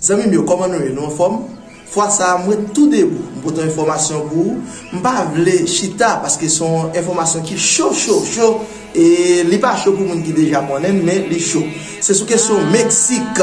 Zanmim yo koman nou ye nou anfom fwa sa a mwen tou debou m pote yon enfomasyon pou ou m pa vle chita paske se yon enfomasyon ki cho cho cho e li pa cho pou moun ki deja konnen l men li cho se sou kesyon meksik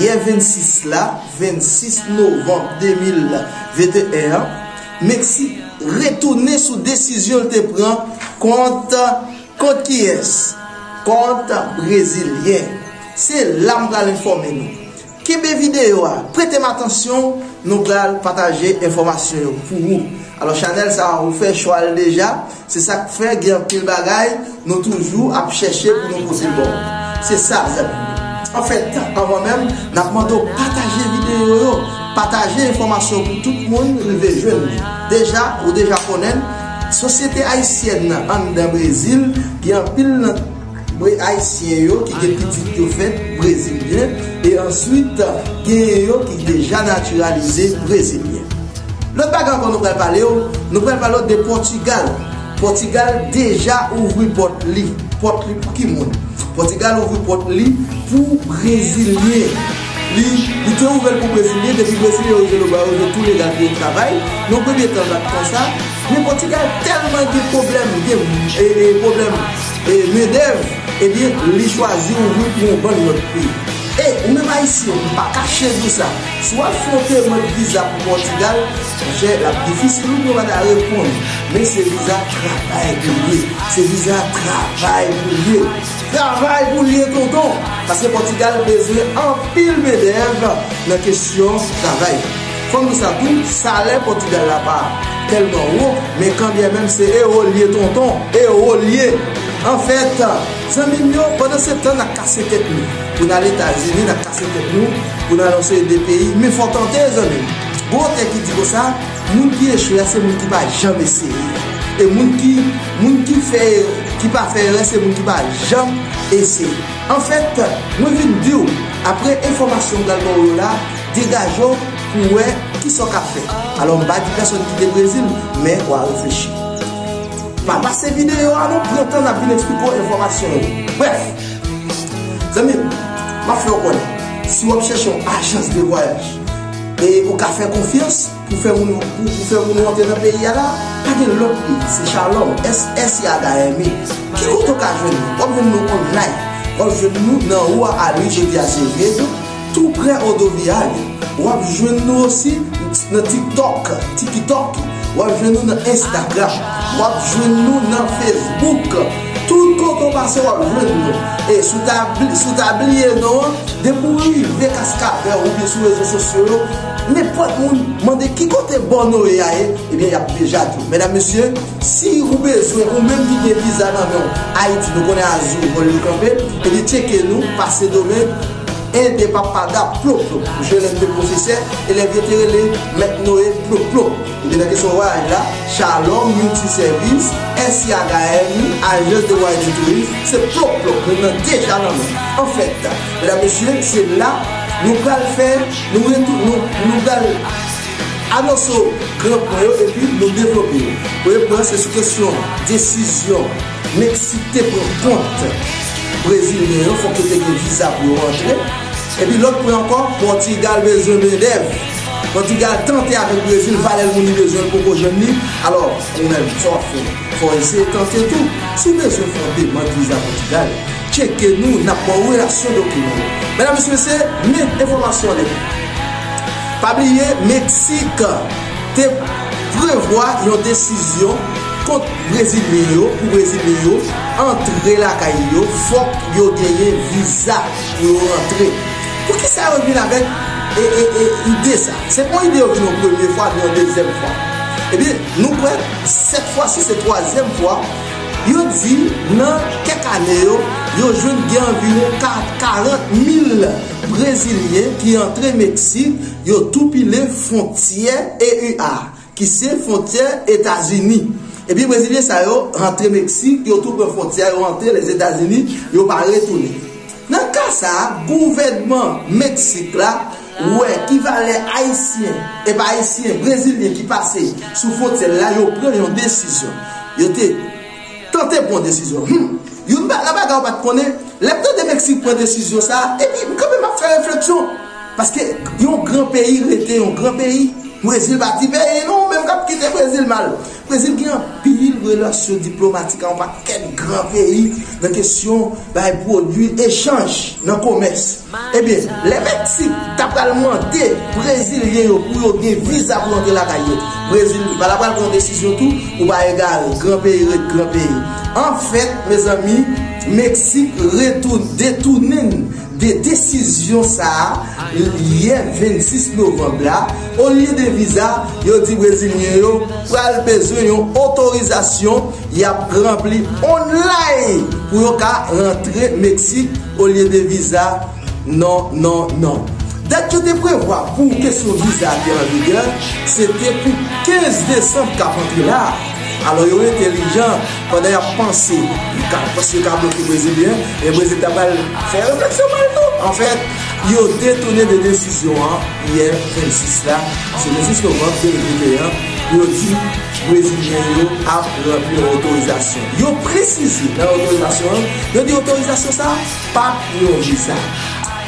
yè 26 la 26 novanm 2021 an. Meksik retounen sou desizyon l te pran kont kont kiyès? Kont brezilyen. Se la m pral enfòme nou. Kenbe videyo a, prete m atansyon, nou pral pataje enfòmasyon yo pou ou. Alò chanèl sa a ou fè chwa l deja? Se sak fè gen anpil bagay nou toujou ap chèche pou nou pote baw. Se sa zanmi m yo. Anfèt, anvan menm, nap mande w pataje videyo yo, pataje enfòmasyon pou tout moun rive jwenn li. Deja, ou deja konnen, sosyete ayisyèn nan anndan Brezil gen anpil nan. Mwen ayisyen yo ki gen pitit yo fèt brezilyen e answit genyen yo ki deja natiralize brezilyen. Lòt bagay ankò nou pral pale w, nou pral pale w de Pòtigal. Pòtigal deja ouvri pòt li, pòt li pou ki moun? Pòtigal ouvri pòt li pou brezilyen. Li te ouvè l pou brezilyen, depi brezilyen yo jwenn yo ba yo vize tou legal pou yo travay. Yon premye tan l ap konsa, men Pòtigal tèlman gen pwoblèm, gen pwoblèm. E mendev ebyen li chwazi ou wi pou yon bann lot peyi. E ou menm ayisyen ou pa kache di w sa, si w al fon demand viza pou Pòtigal, monchè lap difisil ou pou yo pa ta reponn ou. Men se viza travay pou l ye, se viza travay pou l ye. Travay pou l ye tonton, paske Pòtigal bezwen anpil mendev nan kesyon travay. Fòm di sa tou, salè Pòtigal la pa tèlman wo, men kanbyè menm se ewo l ye tonton, ewo l ye! Anfèt, zanmi m yo, pandan se tan n ap kase tèt nou pou n al Etazini, n ap kase tèt nou pou n al yon seri de peyi, men fò tante, zanmi m. Gon otè ki di konsa, Moun ki echwe a se moun ki pa janm eseye. E moun ki, moun ki fè erè, ki pa fè erè se moun ki pa janm eseye. Anfèt, mwen vin di w, apre enfòmasyon m pral ba w yo la, Degaje w pou w wè ki sa w ka fè. Alò m pa di pèsòn kite Brezil, men w a reflechi. Pa pase videyo a non, pran tan n ap vin eksplike w enfòmasyon yo. Brèf! Zanmi m, m ap fè w konnen, si w ap chèche yon ajans de vwayaj e ou ka fè konfyans, Pou fè moun pou fè moun rantre nan peyi a la pa gen lòt li se shalom s s yaga aime ki kote w ka jwenn nou wap jwenn nou online wap jwenn nou nan rua ali jodi azevedo tou prè rodoviario wap jwenn nou osi nan tiktok tikitoki wap jwenn nou nan instagram wap jwenn nou nan facebook tout kote w pase wap jwenn nou e sou ta bliye nou depi w rive kaskavè oubyen sou rezo sosyo yo Nenpòt moun mande ki kote bò Noé a ye, ebyen yap deja di w. Medam mesye, si ou bezwen ou menm ki gen viza nan men w, Ayiti nou konnen azur vòl yo kanpe, ebyen tcheke nou pa Sendomeng, en de pa pa da plop plop. Msye lè l te pwofesè, elèv yo te rele mèt Noé plop plop. Ebyen nan kesyon vwayaj la, Shalom Multi Service, SIAGAM, Agence de Voyage et Tourisme, se plop plop moun nan deja nan men. Anfèt, medam mesye, se la nou pral fè. Nou pral anonse w gran pwen yo epi nou devlope yo. Premye pwen an se sou kesyon desizyon Meksik te pran kont brezilyen yo, fòk yo te gen viza pou yo rantre. Epi lòt pwen ankò, Pòtigal bezwen mendèv. Pòtigal tante avèk Brezil, valè moun li bezwen l poko jwenn li. Alò, ou menm, sa w ap fè? Fòlze tante tou, si w bezwen fè yon demand viza Pòtigal, tcheke nou, n ap ba w relasyon dokiman yo. Medam mesye se men enfòmasyon li. Pa bliye Meksik te prevwa yon desizyon kont Brezilyen yo pou Brezilyen yo antre lakay li yo fòk yo genyen viza pou yo rantre. Poukisa yo vin avèk ide sa? Se pa yon ide yo vin yon premye fwa ni yon dezyèm fwa. Ebyen nou kwè. Sèt fwa si se twazyèm fwa, yo di nan kèk ane yo, yo jwenn gen anviwon 40 mil brezilyen ki antre Meksik, yo tou pile fwontyè EU a, ki se fwontyè Etazini. Ebyen brezilyen sa yo antre Meksik, yo tou pran fwontyè a, yo antre Lèzetazini, yo pa retounen. Nan ka sa a, gouvènman Meksik la. wè ki valè ayisyen epa ayisyen brezilyen ki pase sou fwontyè la yo pran yon desizyon yo te tante pran yon desizyon humm youn nan bagay ou pat konnen lèm tande meksik pran desizyon sa epi m kanpe map fè refleksyon paske yon gran peyi rete yon gran peyi brezil pa ti peyi non menm kap kite brezil mal Brezil gen anpil relasyon diplomatik ak yon pakèt gran peyi nan kesyon bay pwodui, echanj nan komès. Ebyen, lè Meksik ta pral mande brezilyen yo pou yo gen viza pou yo antre lakay yo, Brezil ta pral pran yon desizyon tou pou pa egare, gran peyi ret gran peyi. Anfèt, mezanmi, Meksik retounen, detounen. De desizyon sa a yè 26 novanm la, olye de viza, yo di brezilyen yo pral bezwen yon otorizasyon y ap ranpli onlay pou yo ka rantre Meksik olye de viza non non non. Dat yo te prevwa pou kesyon viza a te anvigè, se te pou 15 desanm k ap antre la a. Alò yo entelijan pandan y ap panse yo ka panse yo ka bloke Brezilyen e Brezil ta pral fè refleksyon pa l tou. Anfèt, yo detounen de desizyon an yè 26 la, se 26 novanm 2021, pou yo di Brezilyen yo ap ranpli yon otorizasyon. Yo presize nan otorizasyon an, yo di otorizasyon sa a pa p yon viza.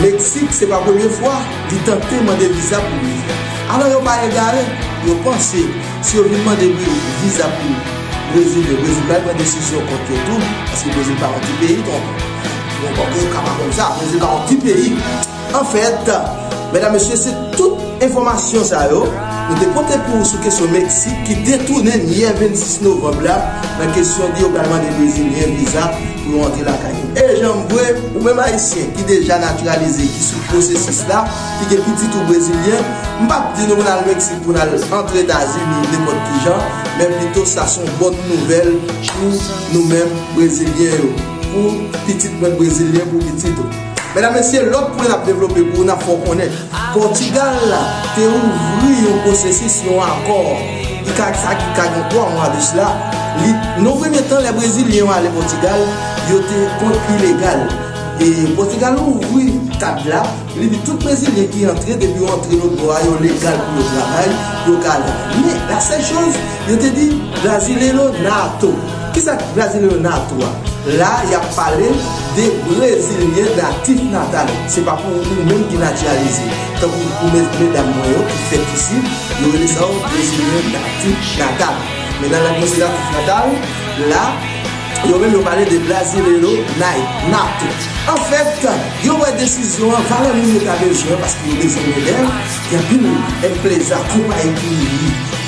Meksik se pa premye fwa li tante mande viza pou Brezil. Alò yo pa egare, yo panse si yo vin mande viza pou Brezil yo, Brezil pral pran desizyon kont yo tou, paske Brezil pa yon ti peyi donk yon bò ke ou ka pa konn sa, Brezil pa yon ti peyi. Anfèt, medam mesye se tout enfòmasyon sa yo nou te pote pou ou sou kesyon Meksik ki detounen yè 26 novanb la nan kesyon di yo pral mande Brezilyen viza. pou yo antre lakay yo. E janm vwe, ou menm Ayisyen ki deja natiralize, ki sou pwosesis la, ki gen pitit ou Brezilyen, m pap di nou pou n al Meksik, pou n al antre Etazini, nenpòt ki jan, men pito sa s on bòn nouvèl pou nou menm Brezilyen yo, pou pitit mwen Brezilyen, pou pitit ou. Medam mesye, lòt pwen n ap devlope pou ou n ap fè w konnen, Pòtigal la te ouvri yon pwosesis, yon akò ki ka sa ki ka gen 3 mwa de sla, li, nan yon premye tan lè Brezilyen yo ale Pòtigal, yo te kont ilegal. E Pòtigal ouvri kad la, li di tout Brezilyen ki antre depi yo antre lòt bò a yo legal pou yo travay, yo ka ale. Men, la sèl choz. Yo te di Brasileiro Nato. Ki sa ki Brasileiro Nato a? La a y ap pale de Brezilyen natif natal. Se pa pou ou menm ki natiralize. Tankou pou medam mwen yo ki fèt isi, yo rele sa yo Brezilyen natif natal. Men nan lang mwen se natif natal. La, yo menm yo pale de Brasileiro Nato. An fèt, yo wè desizyon an, valè moun yo ta bezwen paske yo bezwen elèv. Gen anpil enpreza, konpayi ki ouvri.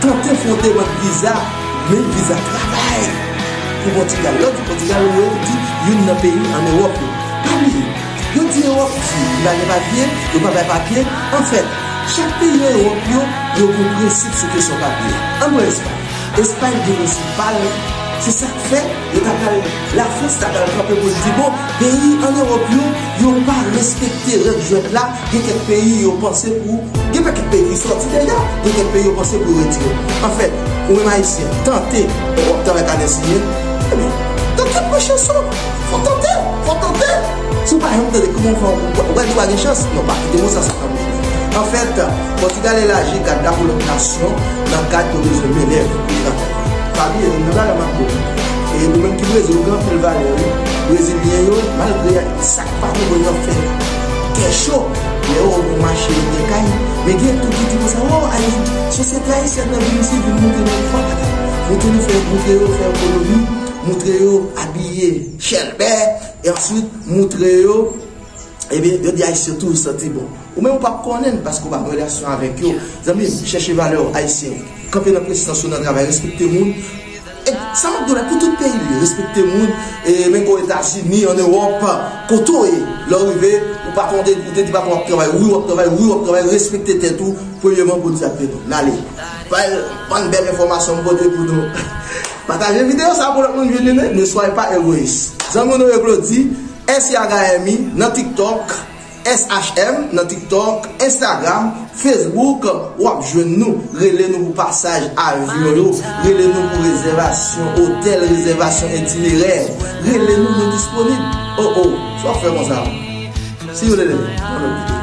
Tante fwonte bann viza men viza travay pou Pòtigal lò di Pòtigal ou wè ou di youn nan peyi an Ewòp yo pa bliye yo di Ewòp di li pa gen papye yo pa bay papye anfèt chak peyi an Ewòp yo yo gen prensip sou kesyon papye ann pran Espay Espay gen prensip pal se sak fè Yo ta pral, la France ta pral kanpe pou l di bon, peyi an Europe yo, yo pa respekte règ jwèt la, gen kèk peyi yo panse pou, gen pakèt peyi ki sòti deja, gen kèk peyi yo panse pou yo retire. An fèt, ou menm Ayisyen, tante, bon wap tan wè kanè siye, ebyen, dan kèt mwen Chanson, fò tante, fò tante, si w pa janm tante kouman w fè w wè li pa gen chans, non pa kite mo sa sa kanpe. An fèt, Pòtigal elaji gad la pou lòt nasyon nan kad yo bezwen mennèv pou travay. Fabi e youn nan bagay map diw e nou menm ki brezil nou gen anpil valè wi brezilyen yo malgre sak pa bon yo gen fè kè cho lè yo wè w pou mache yo gen kay men gen tou ki di konsa oh ayisyen sosyete ayisyèn nan vin isi vin moutre nou fwa pa ta moutre nou fè moutre yo fè ekonomi moutre yo abiye chèlbè e answit moutre yo ebyen yo di ayisyen toujou santi bon. Ou menm ou pap konnenn paske ou pa gen relasyon avèk yo zanmim chèche valè ou ayisyen kanpe nan presans ou nan travay respekte moun et sa map diw la pou tout peyi vre respekte moun e menm o etazini an ewòp kote ou ye lè ou rive ou patron ou te di patron wap travay wi wap travay wi wap travay respekte tèt ou premyeman bondye ap beni w nale bay bann bèl enfòmasyon m pote pou nou pataje video sa pou lòt moun vini li ne soyez pas egoïste zanmi w nou ye glody SIAGAYEMI nan tiktok. SHM nan tiktok, instagram, facebook wap jwenn nou rele nou pou pasaj avyon yo rele nou pou rezèvasyon otèl rezèvasyon itinerè rele nou nou disponib oh oh sa wap fè konsa see you later nan lòt videyo.